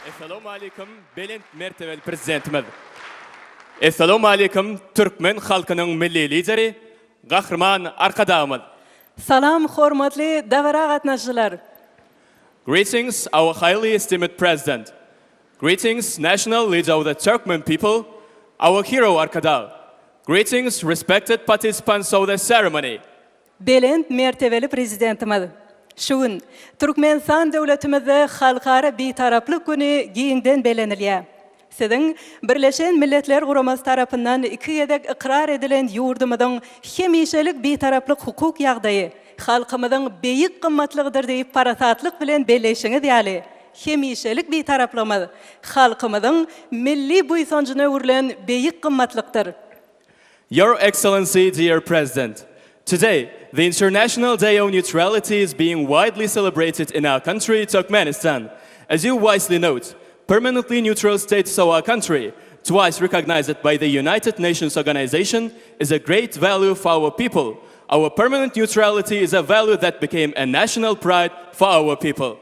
Essalawmaleýkum belent mertebeli Prezidentimiz! Essalawmaleýkum türkmen halkynyň Milli Lideri, Gahryman Arkadagymyz! Salam hormatly dabara gatnaşyjylar! Greetings our highly esteemed President! Greetings National Leader of the Turkmen People, Our Hero Arkadag! Greetings Respected Participants of the Ceremony! Belent mertebeli Prezidentimiz şu gün Türkmenistan döwletimizde Halkara Bitaraplyk güni giňden bellenilýär. Siziň Birleşen Milletler Guramasy tarapyndan iki gezek ykrar edilen ýurdumyzyň hemişelik Bitaraplyk hukuk ýagdaýy, halkymyzyň beýik gymmatlygydyr diýip parasatlyk bilen belleýşiňiz ýaly, hemişelik Bitaraplygymyz halkymyzyň milli buýsanjyna öwrülen beýik gymmatlykdyr. Your Excellency, Dear President, Today, the International Day of Neutrality is being widely celebrated in our country, Turkmenistan. As you wisely note, permanently neutral status of our country, twice recognized by the United Nations Organization, is a great value for our people, Our permanent neutrality is a value that became a national pride for our people.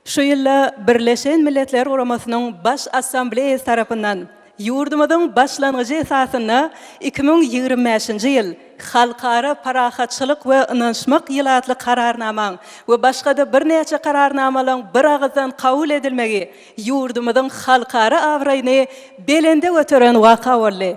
Şu ýylda Birleşen Milletler Guramasynyň Baş Assambleýasy tarapyndan ýurdumyzyň başlangyjy esasynda iki müň ýigrimi bäşinji ýyl Halkara parahatçylyk we ynanyşmak ýyly atly Kararnamaň we başga-da birnäçe Kararnamalaryň biragyzdan kabul edilmegi ýurdumyzyň halkara abraýyny belende göteren waka boldy.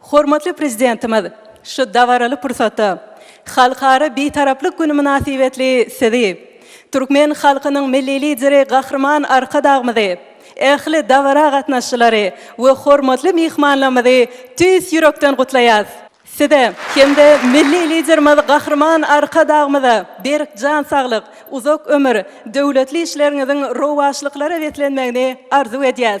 Hormatly Prezidentimiz şu dabaraly pursatda Halkara Bitaraplyk güni mynasybetli Sizi, türkmen halkynyň Milli Lideri Gahryman Arkadagymyzy, ähli dabara gatnaşçylary we hormatly myhmanlarymyzy tüýs ýürekden gutlaýas. Size hem-de Milli Liderimiz Gahryman Arkadagymyza berk jan saglyk, uzak ömür, döwletli işleriňiziň rowaçlyklara beslenmegini arzuw edýäs.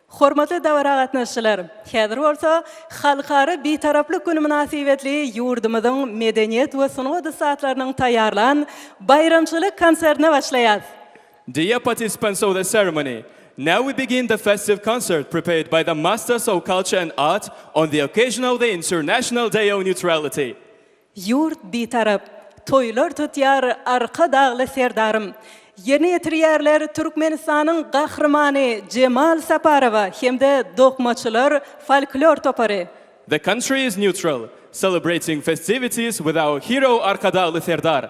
Hormatly dabara gatnaşyjylar! Häzir bolsa Halkara Bitaraplyk güni mynasybetli ýurdumyzyň medeniýet we sungat ussatlarynyň taýýarlan baýramçylyk konsertine başlaýas. Dear participants of the ceremony, now we begin the festive concert prepared by the Masters of Culture and Art on the occasion of the International Day of Neutrality. Ýurt Bitarap toýlar tutýar Arkadagly Serdarym. Ýerine ýetirýärler Türkmenistanyň Gahrymany Jemal Saparowa hem-de Dokmaçylar folklor topary. The country is neutral, celebrating festivities with our hero Arkadagly Serdar,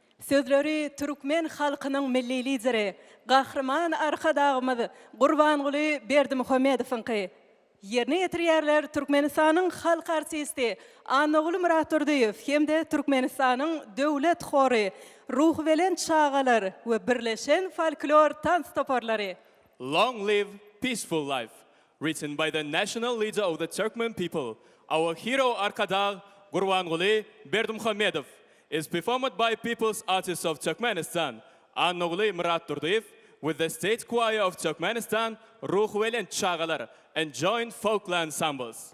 Sözleri türkmen halkynyň Milli Lideri, Gahryman Arkadagymyz Gurbanguly Berdimuhamedowyňky. Ýerine ýetirýärler Türkmenistanyň halk artisti Annaguly Myratdurdyýew hem-de Türkmenistanyň Döwlet hory, Ruhubelent çagalar we birleşen folklor tans toparlary. Long live peaceful life! Written by the National Leader of the Turkmen People, Our Hero Arkadag Gurbanguly Berdimuhamedow is performed by People's Artists of Turkmenistan, Annaguly Myratdurdyýew with the State Choir of Turkmenistan, Ruhubelent çagalar, and joint folkly ensembles.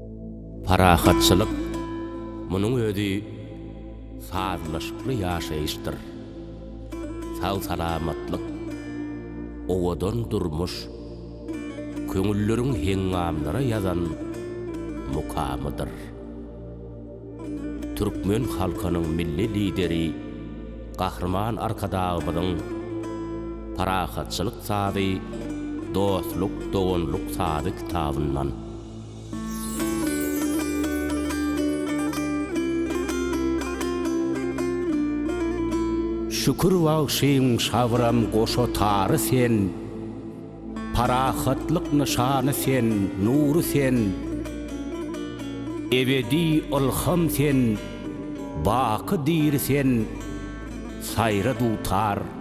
Parahatçylyk, munuň özi sazlaşykly ýaşaýyşdyr. Sag-salamatlyk, owadan durmuş, köňülleriň heňňamlara ýazan mukamydyr. Türkmen halkynyň Milli Lideri Gahryman Arkadagymyzyň Parahatçylyk sazy, dostluk, doganlyk sazy kitabyndan. Şükür bagşyň şabram goşa tary sen, Parahatlyk nyşany sen, nury sen, Ebedi ylham sen, baky diri sen, Saýra dutar.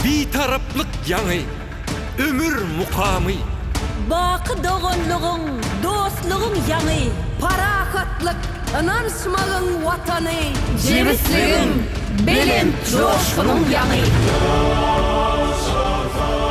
Bitaraplyk ýaňy, ömür mukamy. Baky doganlygyň, dostlugyň ýaňy. Parahatlyk, ynanyşmagyň Watany. Jebisligiň, belent joşgunyň ýaňy. Ýaş Azat!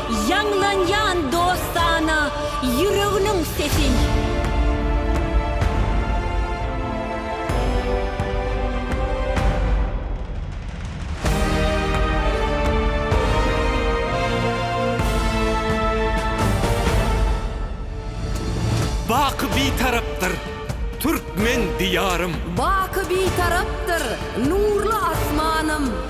Ýaňlanýan dostana ýüreginiň sesi. Baky Bitarapdyr türkmen diýarym. Baky Bitarapdyr nurly asmanym.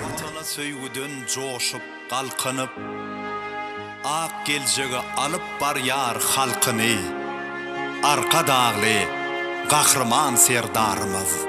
Watana söýgüden joşup, galkynyp, Ak geljege alyp barýar halkyny Arkadagly Gahryman Serdarymyz.